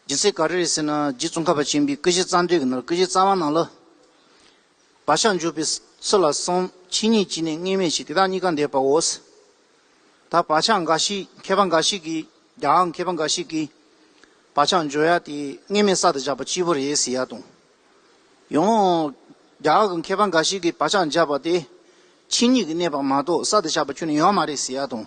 སྦྱིན་སྲེག་ག་རེ་རེད་ཟེར་ན་རྗེ་བཙུན་ཁ་བ་ཆེན་པོའི་སྐུ་བཞེངས་རྩ་མདུད་ཀྱི་ནང་ལ་སྐུ་བཞེངས་རྩ་བ་ནང་ལ། བག་ཆགས་འཇུག་པའི་ཚུལ་ལ་གསུམ་ཕྱི་ཉིད་ཀྱི་ནས་ལྔས་མེ་བྱས་དེ་དག་གཉིས་ཀ་འདས་པའོ། ད་བག་ཆགས་འགའ་ཞིག་མཁས་པ་འགའ་ཞིག་གིས་ཀྱང་མཁས་པ་འགའ་ཞིག་གིས་བག་ཆགས་འཇོག་ཡ་དེ་ལྔས་མེ་གསར་དུ་བཞག་པ་སྤྱི་བོ་རེད་ཟེར་ཡ་དང། ཡང་རྒྱ་གར་གྱི་མཁས་པ་འགའ་ཞིག་གིས་བག་ཆགས་འཇགས་པ་དེ་ཕྱི་ཉིད་ཀྱི་གནས་པ་མ་གཏོགས་གསར་དུ་བཞག་པ་ཁྱོད་ནས་ཡོད་མ་རེད་ཟེར་ཡ་དང།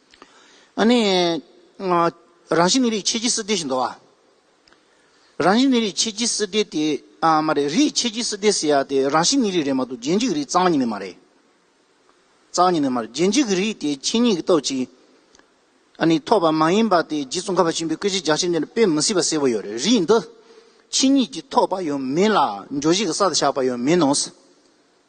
རང་བཞིན་ནི་རིགས་ཕྱེད་ཀྱི་སྲིད་སྡེ་ཞེས་འདོགས་ཨ། རང་བཞིན་ནི་རིགས་ཕྱེད་ཀྱི་སྲིད་སྡེ་དེ། ཨ་མ་རེད། རིགས་ཕྱེད་ཀྱི་སྲིད་སྡེ་ཟེར་ཡ་དེ་རང་བཞིན་ནི་རིགས་རེད་མ་གཏོགས་རྗེས་འཇུག་གི་རིགས་གཙང་གཉིས་ནི་མ་རེད། གཙང་གཉིས་ནི་མ་རེད། རྗེས་འཇུག་གི་རིགས་དེ་ཕྱི་ཉིད་ཀྱི་སྟོབས་ཀྱིས། ཨ་ནི་ཐོབ་པ་མ་ཡིན་པ་དེ་རྗེ་ཙོང་ཁ་པ་ཆེན་པོའི་སྐད་ཆའི་རྒྱགས་ཕྱེ་འདི་ནས་དཔེ་མི་སྲིད་པ་གསལ་པོ་ཡོད་རེད། རིགས་འདི། ཕྱི་ཉིད་ཀྱིས་ཐོབ་པ་ཡོད་མིན་ལ་འགྱོ་བཞེས་ཀྱི་ས་དང་ཆགས་པ་ཡོད་མིན་ནོ།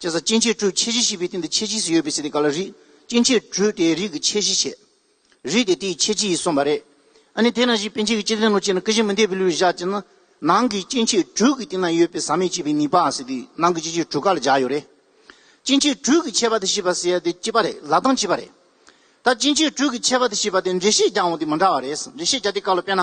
ཅེས་སོགས་སྐྱེ་མཆེད་དྲུག་ཕྱེད་བཞི་བཞི་པའི་སྟེང་དུ་ཕྱེད་བཞི་སུ་ཡོད་པའི་ཚེ་དེ་ག་ལ་རིགས་སྐྱེ་མཆེད་དྲུག་དེའི་རིགས་ཀྱི་ཕྱེད་བཞི་བྱེད། རིགས་དེ་དེའི་ཕྱེད་བཞི་ཡིས་གསུངས་པ་རེད། ཨ་ནི་དེས་ན་གཞི་དཔེ་འཆད་ཀྱི་སྤྱི་དོན་ལོ་ཕྱེད་ན་ཀུན་གཞི་མི་འཐད་པའི་ལུགས་བཞག་ཅེ་ན། ནང་གི་སྐྱེ་མཆེད་དྲུག་གི་སྟེང་ན་ཡོད་པའི་ཟག་མེད་ཅེས་པའི་ནི་པ་ཟེར་དུས་ནང་གི་སྐྱེ་མཆེད་དྲུག་ག་ལ་བཞག་ཡོད་རེད། སྐྱེ་མཆེད་དྲུག་གི་ཕྱེད་པ་དེ་ཞེས་པ་ཟེར་ཡ་དེ་སྐྱེས་པ་རེད་ལ་དང་བྱིས་པ་རེད། ད་སྐྱེ་མཆེད་དྲུག་གི་ཕྱེད་པ་དེ་ཞེས་པ་དེ་འགྲེལ་བཤད་རྒྱག་འོང་དེ་མི་འདྲ་བ་རེད། འགྲེལ་བཤད་རྒྱག་དེ་ག་ལ་དཔེར་ན།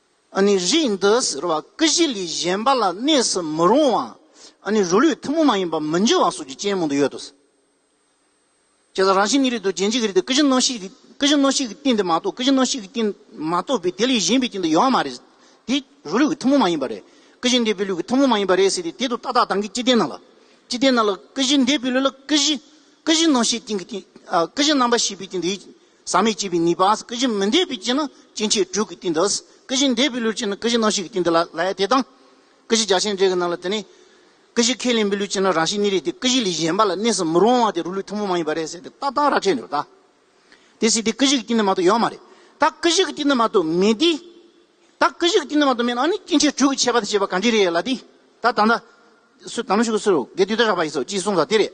ཨ་ནི་རིགས་འདི་ཟེར་བ་སྐུ་བཞི་ལས་གཞན་པ་ལ་གནས་སུ་མི་རུང་བ་ཨ་ནི་རུ་ལུའི་ཐུན་མོང་མ་ཡིན་པ་མི་འགྱུར་བ་སོགས་ཀྱི་རྐྱེན་མང་དུ་ཡོད་དོ། ཇི་ལྟར་རང་བཞིན་ཉིད་རིགས་དང་རྒྱན་གཅིག་གི་རིགས་ཏེ་སྐུ་བཞི་སྣང་ཞིག་གི་སྐུ་བཞི་སྣང་ཞིག་གི་རྟེན་དེ་མ་གཏོགས་སྐུ་བཞི་སྣང་ཞིག་གི་རྟེན་མ་གཏོགས་པའི་དེ་ལས་གཞན་པའི་རྐྱེན་དུ་ཡོད་བ་མ་རེད། དེ་རུ་ལུའི་ཐུན་མོང་མ་ཡིན་པ་རེད། སྐུ་བཞི་འདས་པའི་ལུས་ཀྱི་ཐུན་མོང་མ་ཡིན་པ་རེད་ཟེར་ཏེ་དེ་དང་ཏག་ཏག་གདངས་ཀྱི་སྤྱི་རྟེན་སྣང་ལ། སྤྱི་རྟེན་སྣང་ལ་སྐུ་བཞི་འདས་པའི་ལུས་ལ་སྐུ་བཞི་སྐུ་བཞི་སྣང་ཞིག་རྐྱེན་གྱི་རྟེན་སྐུ་བཞི་སྣང་བ་ཞེས་པའི་རྐྱེན་དེ་ཡིན། ཟག་མེད་སྐྱེས་པའི་ནུས་པའང་སྐུ་བཞི་མི་འདས་པའི་རྐྱེན་ནི་སྐྱེ་མཆེད་དྲུག་གི་སྟེང་དུ། སྐུ་བཞི་འདས་པའི་ལུས་རྐྱེན་ནི་སྐུ་བཞི་སྣང་བྱེད་ཀྱི་སྟེང་དུ་ལ་ལས་དེ་དང། སྐུ་བཞི་རྒྱ་ཆེན་འབྲས་བུའི་ནང་ལ་དེ་ནི། སྐུ་བཞི་ཁས་ལེན་པའི་ལུས་རྐྱེན་ནི་རང་བཞིན་ཉིད་རེད་དེ་སྐུ་བཞི་ལས་གཞན་པ་ལ་གནས་སུ་མི་རུང་བ་དེ་རུ་ལུས་ཐུན་མོང་མ་ཡིན་པ་རེད་ཟེར་ཏེ་ལྟ་སྟངས་ར་འཕྲད་འདུག་ད། དེ་སྲིད་དེ་སྐུ་བཞི་གི་སྟེང་དུ་མ་གཏོགས་ཡོད་མ་རེད། ད་སྐུ་བཞི་གི་སྟེང་དུ་མ་གཏོགས་མེད་དེ། ད་སྐུ་བཞི་གི་སྟེང་དུ་མ་གཏོགས་མེད་ན་ནི་སྐྱེ་མཆེད་དྲུག་གི་ཁྱད་པར་དེ་བྱེད་པ་གང་འདྲས་རེད་ལ་དེ། ད་ད་ནི། སུ་དང་ནི་ཕྱུགས་ཀྱི་སུ་རུ་གས་དུས་ད་རག་པ་ཡིན་སོ་ཅེས་གསུངས་ས་དེ་རེད།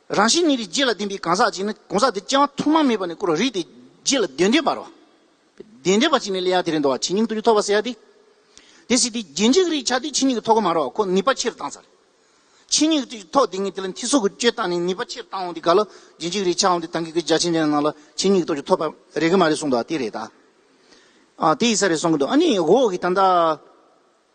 རང་བཞིན་ཉིད་ཀྱི་རྗེས་ལ་ལྡན་པའི་གང་ཟག་ཅིག་ནི་གང་ཟག་དེ་སྐྱེ་བ་ཐོག་མ་མེད་པ་ནས་བསྐོར་བ་རིགས་ཏེ་རྗེས་ལ་དོན་ལྡན་པར་རོ། དོན་ལྡན་པ་ཅིག་ནི་ལས་ཡང་དེ་རིང་འདོར་བ་ཇི་སྙིང་དུ་རྒྱུ་ཐོགས་པ་སེ་ཡ་སྟེ། དེ་སྲིད་དེ་རྗེས་འཇིག་རིགས་ཆགས་དུས་ཕྱི་སྙིགས་ཀྱི་ཐོག་གོ་མ་རོ་ཁོ་ནུས་པ་ཕྱིར་བཏང་ཚར། ཕྱི་སྙིགས་ཀྱི་ཐོག་དེ་ཉིད་དེ་ལ་མཐིལ་སོགས་ཀྱི་སྤྱོད་བཏང་ནས་ནུས་པ་ཕྱིར་བཏང་འོང་དེ་ག་ལ་རྗེས་འཇིག་རིགས་ཆགས་འོང་དེ་དང་གི་གི་རྒྱ་ཆེན་ཅན་རྣམས་ལ་ཕྱི་སྙིགས་ཀྱི་ཐོག་རྒྱུ་ཐོགས་པ་རེག་གི་མ་རེད་གསུངས་འདུག་ཨ་དེ་རེད་ད། ཨ་དེ་ཡིས་ས་རེད་གསུངས་གི་འདུག་ཨ་ནི་འོག་གི་ད་ལྟ།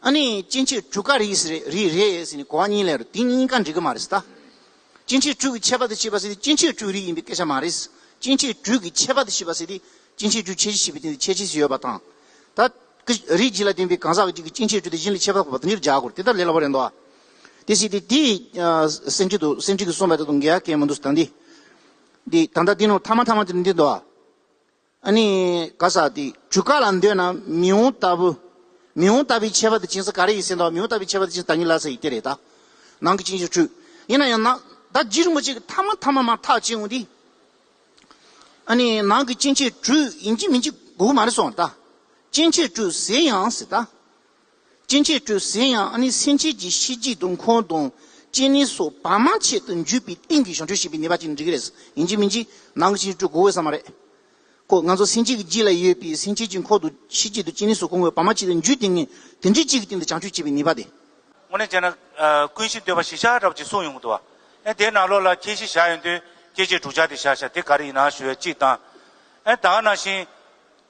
ཨ་ནི་སྐྱེ་མཆེད་དྲུག་ག་རེ་རེད་ཟེར་ནས་གོ་བ་གཉིས་ལས་རོ་དེ་གཉིས་ཀ་འགྲིག་གི་མ་རེད་ད། སྐྱེ་མཆེད་དྲུག་གི་ཁྱད་པར་དུ་བྱས་པ་ཟེར་དུས་སྐྱེ་མཆེད་དྲུག་རིགས་ཡིན་པའི་སྐད་ཆ་མ་རེད། སྐྱེ་མཆེད་དྲུག་གི་ཁྱད་པར་དུ་བྱས་པ་ཟེར་དུས་སྐྱེ་མཆེད་དྲུག་ཁྱད་ཆེ་ཞེས་པའི་དོན་དུ་ཁྱད་ཆེ་ཞིག་ཡོད་པ་དང། ད། རིགས་གཅིག་ལ་བརྟེན་པའི་གང་ཟག་གཅིག་གི་སྐྱེ་མཆེད་དྲུག་དེ་གཞན་ལ་ཁྱད་པར་འཕགས་པ་དོན་གཉེར་བྱ་དགོས་དེ་ལྟར་ལས་སླ་བོ་རེད་འདུག་ཨ། དེ་བྱས་ཏེ་དེ། སེམས་ཁྲིད་དུ་སེམས་ཁྲིད་ཀྱིས་གསུངས་པ་དེ་དང་འགལ་བ་གལ་མི་འདུག་ད་འདི། འདི་ད་ལྟ་འདི་ནང་མཐའ་མ་མཐའ་མ་དེ་འདི་འདུག་ཨ། ཨ་ནི། ག་ས་ཏི། ཇུ་ག་ལ་འདོད་ན་མི་འོང་ལྟ་བུ། མི་འོང་ལྟ་བུའི་ཁྱད་པར་དུ་སྦྱིན་ས་ག་རེ་ཡིན་སེམས་དང་མི་འོང་ལྟ་བུའི་ཁྱད་པར་དུ་སྦྱིན་ས་ད་ཉིད་ལ་ས་ཡི་སྟེ་རེད་ད། ནང་གི་ཅིང་ཞིག་འཁྲུལ། ཡིན་ན་ཡང་ན། ད་རྗེས་རིན་པོ་ཆེ་གི་ཐ་མ་ཐ་མ་མ་ཐག་ཅིང་འོང་སྟེ། ཨ་ནི། ནང་གི་ཅིང་ཆེ་འཁྲུལ་ཡིན་གྱི་མིན་གྱི་དགོས་མ་རེད་སོང་ད། ཅིང་ཆེ་འཁྲུལ་ཟེར་ཡང་སྲིད་ད། སྐྱེ་མཆེད་སྤྲོས་ཟིན་ཡང་ཨ་ནི་སེམས་ཅན་གྱི་ཤེས་རྒྱའི་སྡོམ་ཁོང་དང་བཅས་ནི་སོགས་བར་མ་ཆད་དུ་འཇུག་པའི་རྟེན་གྱི་གཞུང་འཁྲུལ་ཞེས་པའི་ནུས་པ་ཅིག་འགྲིག་གི་རེད་ཡིན་གཅིག་མིན་གཅིག་ནང་གི་ཕྱིན་སྤྲོས་གོ་འོས་ས་མ་རེད་ཀོ་ང་ཚོ་སེམས་ཅན་གྱི་རྗེས་ལ་ཡོད་པའི་སེམས་ཅན་གྱི་འཁོར་དུ་ཤེས་རྒྱའི་དུ་ཅན་ནི་སོགས་གོང་འོས་བར་མ་ཆད་དུ་འཇུག་དེ་ངས་དེ་འབྲེལ་གཅིག་གི་སྟེང་དུ་བྱང་ཆུབ་ཅེས་པའི་ནུས་པ་དེ། དངོས་གནས་བྱས་ན། ཀུན་གཞི་འདོད་པ་ཞི་བྱ་རབ་ཅེས་གསུངས་ཡོང་གི་འདུག་ཨ་དེའི་ནང་ལོགས་ལ་ཁྱད་གཞི་བཞག་ཡོད་དུས་སྐྱེ་མཆེད་དྲུག་ཆ་དེ་བཞག་བཞག་དེ་ག་རེ་ཡིན་ནའང་ཞུ་བའི་གཅིག་དང། ཨ་ད་ནང་བཞིན།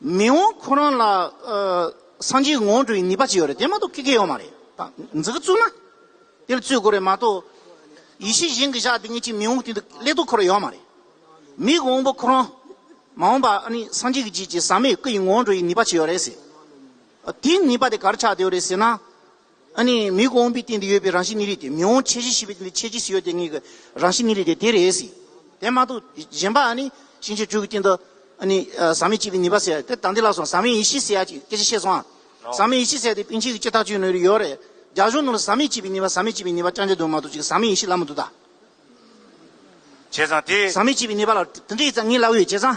མི་འོང་ཁོ་རང་ལ་སངས་རྒྱས་ངོ་སྤྲོད་ཀྱི་ནུས་པ་ཅི་ཡོད་རེད་དེ་མ་གཏོགས་ཀི་ཀི་ཡོད་མ་རེད་འཛི་ཀི་བཙུགས་ན་དེ་ལ་བཙུད་དགོས་རེད་མ་གཏོགས་ཡེ་ཤེས་གཞན་གྱི་བཞག་དེ་ངེད་ཅིག་མི་འོང་དེ་འདུག་ཀླད་སྟུག་ཁོ་ར་ཡོད་མ་རེད་མིག་འོང་པོ་ཁོ་རང་མ་འོང་པ་ཨ་ནི་སངས་རྒྱས་ཀྱི་རྗེས་ཀྱི་ཟག་མེད་སྐུ་ཡི་ངོ་སྤྲོད་ཀྱི་ནུས་པ་ཅི་ཡོད་རེད་ཟེར་དེའི་ནུས་པ་དེ་ག་ར་ཆགས་བསྡད་ཡོད་རེད་ཟེར་ན་ཨ་ནི་མི་གོ་འོང་པའི་སྟེང་དུ་ཡོད་པའི་རང་བཞིན་ནི་རིགས་ཏེ་མི་འོང་ཆེས་ཤེས་བྱེད་དེ་ཆེས་ཅི་སྲིད་ཡོད་དེ་ཉིད་ཀྱི་རང་བཞིན་ནི་རིགས་ཏེ་དེ་རེ་སྲིད་དེ་མ་གཏོགས་གཞན་པ་ཨ་ནི་ཤིང་བྱའི་སྦྲུལ་གྱི་སྟེང་དུ་ཨ་ནི་ཟག་མེད་གཅིག་པའི་ནུས་པ་ཟེར་དེ་དང་དེ་ལ་སོང་ཟག་མེད་ཡེ་ཤེས་ཟེར་ཡ་གཅིག་སྐད་ཆ་བཤད་སོང་ཨ། ཟག་མེད་ཡེ་ཤེས་ཟེར་དེ་པིན་ཆེན་གྱི་སྤྱི་ཐག་གཅོད་ནུས་རེ་ཡོད་རེད་རྒྱ་གཞུང་ནང་ལ་ཟག་མེད་གཅིག་པའི་ནུས་པ་ཟག་མེད་གཅིག་པའི་ནུས་པ་ཅང་ཅི་འདུག་མ་གཏོགས་གཅིག་ཟག་མེད་ཡེ་ཤེས་ལབ་མི་འདུག་ད། བྱས་ཙང་དེ། ཟག་མེད་གཅིག་པའི་ནུས་པ་ལ་དེ་འདྲའི་ཡིད་ཚ་ངེས་སླ་བོའི་བྱས་ཙང།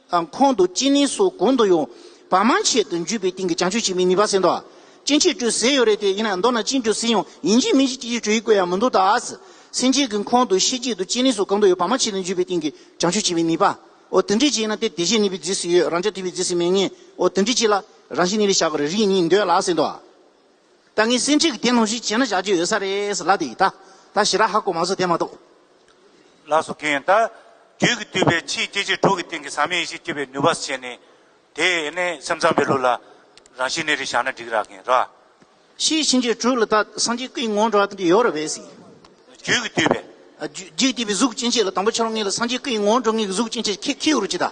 དང་ཁོང་དུ་ཅིན་ལིན་སོགས་གོང་དུ་ཡོང་བ་མང་ཆེ་དུ་འཇུས་པའི་སྟེང་གི་བྱང་ཆོས་ཅིག་མིན་ནུས་པ་ཟེར་འདུག་ཅིན་ཆིག་སྒྲོས་ཟེར་ཡོད་རེད་དེ་ཡིན་ན་མདོར་ན་ཅིན་སྒྲོས་ཟེར་ཡང་ཡིན་གཅིག་མིན་གཅིག་ཅིག་ཅིག་བྲོ་ཡིག་བཀོད་ཡ་མི་འདུག་ད་སེམས་ཅན་གྱི་ཁོང་དུ་ཤེས་གཅིག་ཏུ་ཅིན་ལིན་སོགས་གོང་དུ་ཡོད་པ་མང་ཆེ་དུ་འཇུས་པའི་སྟེང་གི་བྱང་ཆོས་ཅིག་མིན་ནུས་པ་འོ་དེ་འདྲས་ཅིག་ཡིན་ན་དེ་དེ་བཞིན་ནུས་པའི་རྫིས་སུ་ཡོད་རང་ཅག་དུས་བའི་རྫིས་སུ་མེད་ངེས་འོ་དེ་འདྲས་ཅིག་ལ་རང་བཞིན་ནུས་ལས་བཞག་གི་རེ་རིགས་གཉིས་འདོད་ལགས་ཟེར་འདུག། ད་ངའི་སེམས་ཁྲལ་གྱི་དེ་ནང་བཞིན་བྱས་ན་བཞག་རྒྱུ་ཡོད་ས་རེད་ལབ་དེ་ཡིན་ད། ད་ཞི་ར་ཧ་གོ་མ་བཟོ་དེ་མ་གཏོགས། ལགས་སོ་གིན། ད་རྒྱུད་ཀྱི་བཏུས་པའི་ཕྱིའི་སྐྱེ་མཆེད་དྲུག་གི་སྟེང་གི་ཟག་མེད་ཡེ་ཤེས་སྐྱེད་པའི་ནུས་པ་བྱས་ནས། དེས་ཡེ་ནས་སེམས་ཙམ་པའི་ལུགས་ལ། རང་བཞིན་གནས་རིགས་བཞག་ན་འགྲིག་ར་གིན་ར། ཕྱིའི་ཕྱིན་ཆད་དྲུག་ལ་ད་སངས་རྒྱས་སྐུའི་ངོ་འགྲོ་བ་དེ་ཡོད་ར་བས་སྲིད། རྒྱུད་ཀྱི་བཏུས་པའི། རྒྱུད་བཏུས་པའི་གཟུགས་སྐྱེ་མཆེད་ལ་དང་པོ་ཆ་ལུགས་ངེས་ལ་སངས་རྒྱས་སྐུའི་ངོ་འགྲོ་ངེས་ཀྱི་གཟུགས་སྐྱེ་མཆེད་ཁྱེད་ཁྱེད་ཡོད་རུ་ཅི་ད།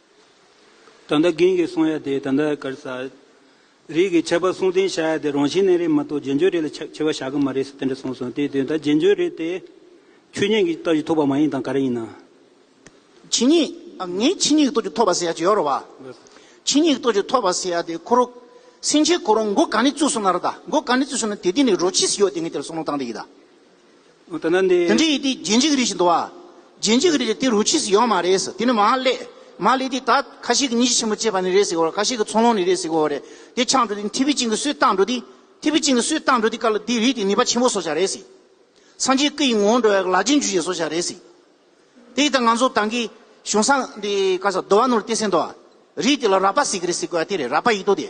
ད་ལྟ་རྒན་གྱིས་གསུང་ཡ་དེ་ད་ལྟ་གར་ས། རིགས་ཀྱི་ཁྱད་པར་གསུང་རྟེན་བཞག་ཡ་དེ་རང་བཞིན་གནས་རེད་མ་གཏོགས་རྗེས་འཇུག་རེད་ལ་ཁྱབ་ཁྱེར་བ་བཞག་གི་མ་རེད་ཟེར་དེ་འདྲ་གསུང་སོང་དེའི་དོན་ད་རྗེས་འཇུག་རེད་དེ། ཆོས་ཉིད་ཀྱི་རྟགས་ཀྱི་ཐོབ་པ་མ་ཡིན་དང་ག་རེ་ཡིན་ན། ཆོས་ཉིད། ངས་ཆོས་ཉིད་ཀྱི་རྟོགས་ཀྱི་ཐོབ་པ་ཟེར་ཡ་ཇི་ཡོར་བ། ཆོས་ཉིད་ཀྱི་རྟོགས་ཀྱི་ཐོབ་པ་ཟེར་ཡ་དེ་ཁོ་རོ། སེང་ཆེན་ཁོ་རོ་མགོ་ག་ནས་བཙུགས་སོང་ན་ར་ད་མགོ་ག་ནས་བཙུགས་སོང་ན་དེ་དེ་ནས་རོ་ཕྱིས་སུ་ཡོད་དེ་ངས་དེ་ལ་གསུང་རོང་བཏང་དེ་ཡིད་ད། དེ་འདྲའི་ཡི་དེ་རྗེ་འཇིགས་རིས་ཞེས་འདོ་བ། རྗེ་འཇིགས་རིས་དེ་རུ་ཆིས་ཡོད་མ་རེད་ཟེར་དེ་ནི་མ་ཀླད། མ་ཀླད་དེ་ད་ཁ་ཤས་ཀྱི་གཉིས་ཆེ་ཆེན་པོ་བཅས་པ་ནས་རེད་ཟེར་གོ་ཁ་ཤས་ཀྱི་ཚོང་ལོང་ནས་རེད་ཟེར་གོ་རེད་དེ་ཆགས་འགྲོ་དེ་ཐི་བི་ཅིང་གི་སུས་བཏགས་འགྲོ་དེ་ཐི་བི་ཅིང་གི་སུས་བཏགས་འགྲོ་དེ་ཀ་ལ་དེ་རིགས་དེ་ནུས་པ་ཆེན་པོ་བཟོ་བྱ་རེད་ཟེར། སངས་རྒྱས་སྐུ་ཡི་ངོ་བོ་འགྲོ་བའི་ལ་ཆེན་ཇུས་བྱེད་བཟོ་བྱ་རེད་ཟེར། དེ་ད་ང་ཚོ་ད་གི་གཞུང་སངས་དེ་ཀ་ས་འདོ་བ་ནོར་ཏེ་སེ་འདོ་བ། རིགས་དེ་ལ་རག་པ་ཟེར་གི་རེད་ཟེར་གོ་ཡ་དེ་རེད་རག་པ་ཡིད་དོ་དེ།